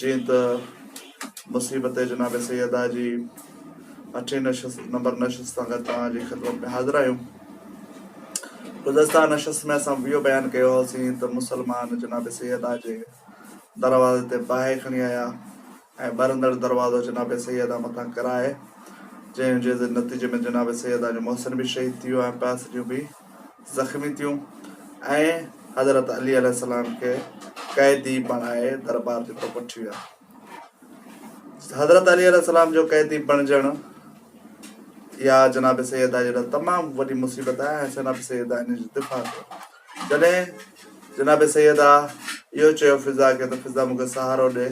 جيئن ته مصيبت جناب سيده جي اٺين نشست نمبر نشست سان گڏ توهان جي خدمت ۾ حاضر آهيون. گذشته نشست ۾ اسان اهو بيان ڪيو هئاسين ته مسلمان جناب سيده جي دروازي تي باهه کڻي آيا ۽ ٻرندڙ دروازو جناب سيده مٿان ڪرائي جنهن جي نتيجي ۾ جناب سيده جو محسن به شهيد ٿي ويو ۽ پاسريون به زخمي ٿيون ۽ حضرت علي عليه السلام کي قيدي بڻائي دربار جي طرف وٺي ويا. حضرت علي عليه السلام جو قيدي بڻجڻ يا جناب سيدا جي لاء تمام وڏي مصيبت آهي ۽ جناب سيدا ان جو دفاع ڪيو جڏهن جناب سيدا اهو چيو فضا کي ته فضا مونکي سهارو ڏي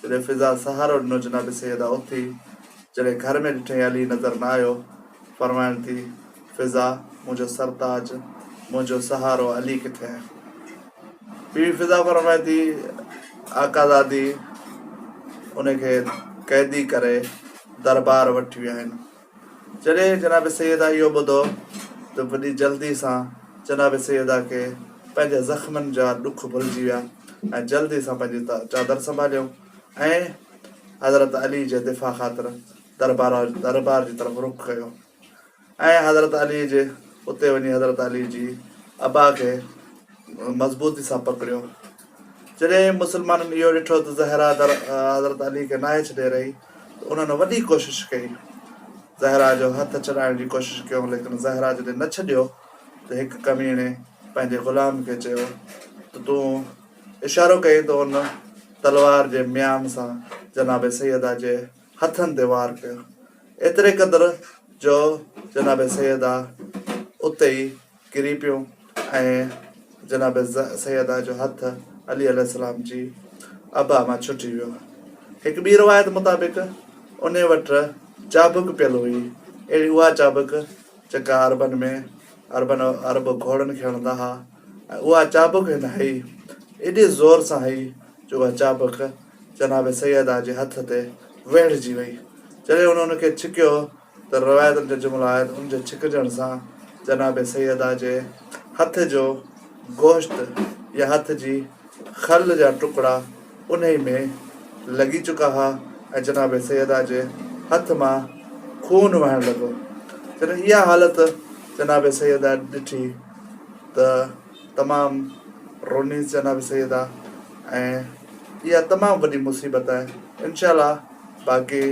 جڏهن فضا سهارو ڏنو جناب سيدا اٿي جڏهن گهر ۾ ڏٺائين علي نظر نه آيو پروائڻ ٿي فضا منهنجو سرتاج منهنجو سهارو علي ڪٿي آهي بي بي فضا فرمائي ٿي آقا زادي ان کي قيدي ڪري دربار وٺي ويا آهن جڏهن جناب سيدا اهو ٻڌو ته وڏي جلدي سان جناب سيدا کي پنهنجي زخمن جا ڏک ڀلجي ويا ۽ جلدي سان پنهنجي چادر سنڀاليو ۽ حضرت علي جي دفاع خاطر دربار دربار جي طرف رخ ڪيو ۽ حضرت علي جي اتي وڃي حضرت علي جي ابا کي مضبوطي سان پڪڙيو جڏهن مسلمانن اهو ڏٺو ته زهرا در حضرت علي کي ناهي ڇڏي رهي ته انهن وڏي ڪوشش ڪئي زهرا جو هٿ ڇڏائڻ جي ڪوشش ڪيو ليڪن زهرا جڏهن نه ڇڏيو ته هڪ ڪميڻي پنهنجي غلام کي چيو ته تون اشارو ڪئين ته ان تلوار جي ميان سان جناب سيدا جي هٿن تي وار ڪيو، ايتري قدر جو جناب سيدا اتي ئي ڪري پيو ۽ جناب سيدا جو هٿ علي عليه السلام جي ابا مان ڇٽي ويو. هڪ ٻي روايت مطابق انهي وٽ چابڪ پيل هئي، اهڙي اها چابڪ جيڪا عربن ۾ عربن عرب گهوڙن کي هڻندا ها. ۽ اها چابڪ هن هئي، ايڏي زور سان هئي جو اها چابڪ جناب سيده جي هٿ تي ويڙهجي وئي. جڏهن هن ان کي ڇڪيو ته روايتن جا جملا آهن، ان جي ڇڪجڻ سان جناب سيده جي هٿ جو گوشت يا هٿ جي کل جا ٽڪڙا انهي ۾ لڳي چڪا ها ۽ جناب سيده جي هٿ مان خون وهڻ لڳو. جڏهن اها حالت جناب سيده ڏٺي. ته تمام رونيس جناب سيد آ ۽ اها تمام وڏي مصيبت آهي انشاء الله باقي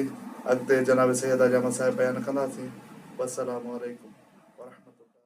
اڳتي جناب سيد آ جا مسائل بيان ڪنداسين والسلام عليڪم ورحمة الله.